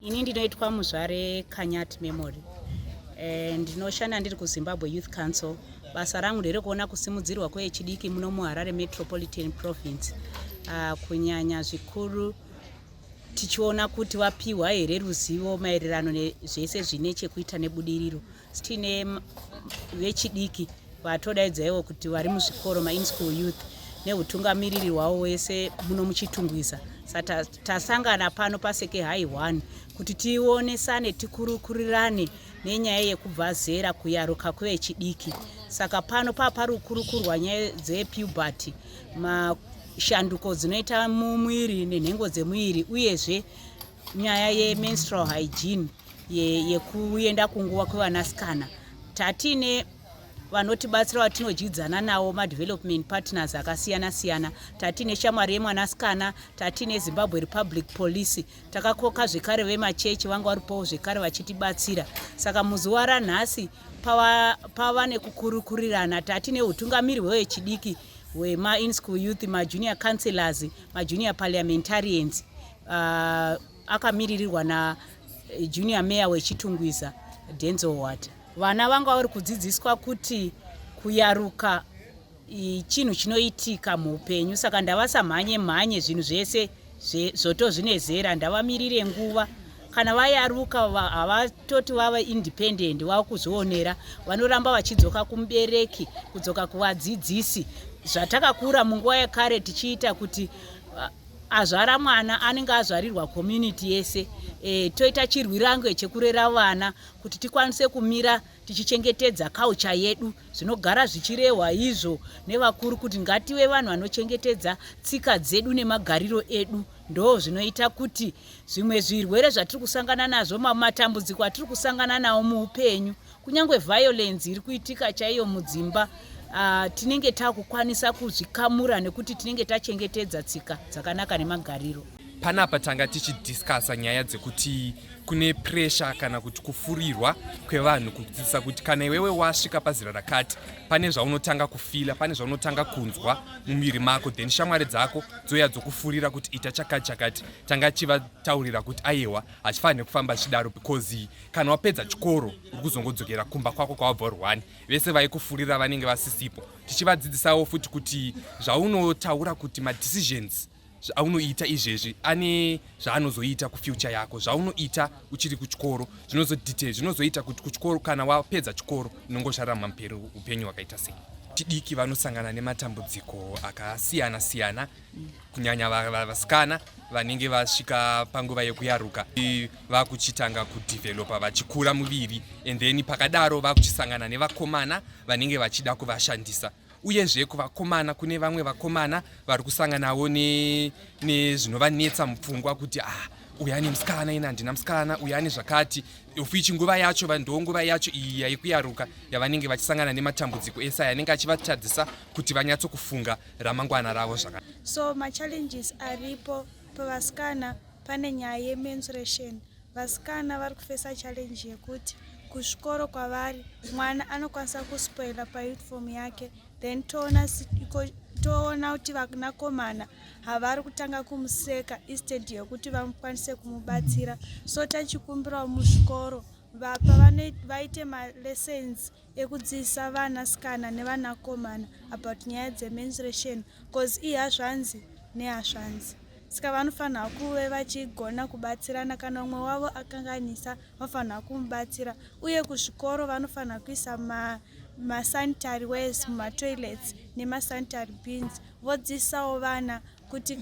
Ini ndinoitwa muzvare Kanyat Memory. Eh, ndinoshanda ndiri kuZimbabwe Youth Council. Basa rangu nderekuona kusimudzirwa kwevechidiki muno muHarare Metropolitan Province. Ah, kunyanya zvikuru tichiona kuti vapiwa here ruzivo maererano nezvese zvine chekuita nebudiriro. Tine vechidiki vatodaidzaiwo kuti vari muzvikoro main school youth neutungamiriri hwavo wese muno muchitungwiza saka tasangana pano paseke hai one kuti tionesane tikurukurirane nenyaya yekubva zera kuyaruka kwevechidiki saka pano paparukurukurwa nyaya dzepuberty mashanduko dzinoita mumwiri nenhengo dzemuviri uyezve nyaya yemenstrual hygiene yekuenda ye kunguva kwevanasikana tatiine vanotibatsira vatinodyidzana nawo madevelopment partners akasiyana siyana tatiine shamwari yemwanasikana tatiine zimbabwe republic policy takakoka zvekare vemachechi vanga varipowo zvekare vachitibatsira saka muzuva ranhasi pava, pava nekukurukurirana tatiine utungamiri hwevechidiki hwemainschool youth majunior councillors majunior parliamentarians uh, akamiririrwa na eh, junior mayor wechitungwiza denzel water vana vanga vari kudzidziswa kuti kuyaruka chinhu chinoitika muupenyu saka ndavasamhanye mhanye zvinhu zvese zvoto zvine zera ndavamirire nguva kana vayaruka havatoti vava independent vava kuzvionera vanoramba vachidzoka kumubereki kudzoka kuvadzidzisi zvatakakura munguva yekare tichiita kuti azvara mwana anenge azvarirwa community yese e, toita chirwirange chekurera vana kuti tikwanise kumira tichichengetedza culture yedu zvinogara zvichirehwa izvo nevakuru kuti ngative vanhu vanochengetedza tsika dzedu nemagariro edu ndo zvinoita kuti zvimwe zvirwere zvatiri kusangana nazvo matambudziko atiri kusangana nawo muupenyu Kunyangwe violence iri kuitika chaiyo mudzimba uh, tinenge takukwanisa kuzvikamura nekuti tinenge tachengetedza tsika dzakanaka nemagariro. Panapa tanga tichidiscasa nyaya dzekuti kune pressure kana kuti kufurirwa kwevanhu kudzidzisa kuti kana iwewe wasvika pazera rakati pane zvaunotanga kufila pane zvaunotanga kunzwa mumiri mako then shamwari dzako dzoya dzokufurira kuti ita chakati chakati tanga chivataurira kuti ayewa hachifanire kufamba chidaro because kana wapedza chikoro uri kuzongodzokera kumba kwako kwawabva uri one vese vaikufurira vanenge vasisipo tichivadzidzisawo futi kuti zvaunotaura kuti madecisions zvaunoita izvezvi ane zvaanozoita kufuture yako zvaunoita uchiri kuchikoro zvinozodetail zvinozoita kuti kuchikoro kana wapedza chikoro inongozvarama mperi upenyu hwakaita sei tidiki vanosangana nematambudziko akasiyana siyana kunyanya vasikana vanenge vasvika panguva yekuyaruka vakuchitanga kudevelopa vachikura muviri and then pakadaro vakuchisangana nevakomana vanenge vachida kuvashandisa uyezve kuvakomana kune vamwe vakomana vari kusanganawo nezvinovanetsa ne, mupfungwa kuti ah, uya ane musikana ina handina musikana uya ane zvakati ofichi nguva yacho ndonguva yacho iyi yaikuyaruka yavanenge vachisangana nematambudziko ese aya anenge achivatadzisa kuti vanyatso kufunga ramangwana ravo zvaka so machallenges aripo pavasikana pane nyaya yemensuration vasikana vari kufesa challenge yekuti kuzvikoro kwavari mwana anokwanisa kuspoila pauniform yake then toona toona kuti vanakomana havari kutanga kumuseka instead yekuti vakwanise kumubatsira so tachikumbirawo muzvikoro vapa vaite malessons ekudzidzisa vana sikana nevanakomana about nyaya dzemensuration bcause ihazvanzi nehazvanzi saka vanofanira kuve vachigona kubatsirana kana umwe wavo akanganisa vanofanira kumubatsira uye kuzvikoro vanofanira kuisa masanitary ways mumatoilets nemasanitary beans vodzidzisawo vana kuti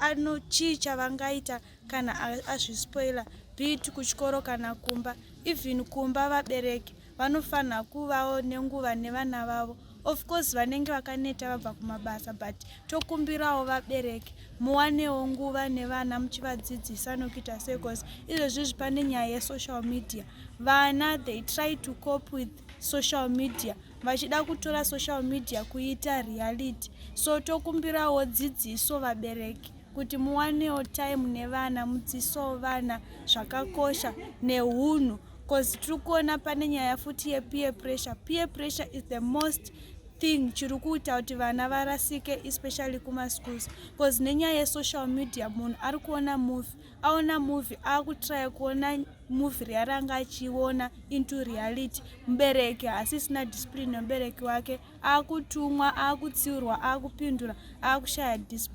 anochii chavangaita kana azvispoila bit kuchikoro kana kumba even kumba vabereki vanofanira kuvawo nenguva nevana vavo of course vanenge vakaneta vabva kumabasa but tokumbirawo vabereki muwanewo nguva nevana muchivadzidzisa nokuita sei bcause izvezvizvi pane nyaya yesocial media vana they try to cope with social media vachida kutora social media kuita reality so tokumbirawo dzidziso vabereki kuti muwanewo time nevana mudziso vana zvakakosha nehunhu bcause tiri kuona pane nyaya futi yepeer pressure peer pressure is the most thing chiri kuita kuti vana varasike especially kumaschools bcause nenyaya yesocial media munhu ari kuona movie aona movie akutraya kuona movie riya ranga achiona into reality mubereki hasisina discipline nomubereki wake akutumwa akutsiurwa akupindura akushaya discipline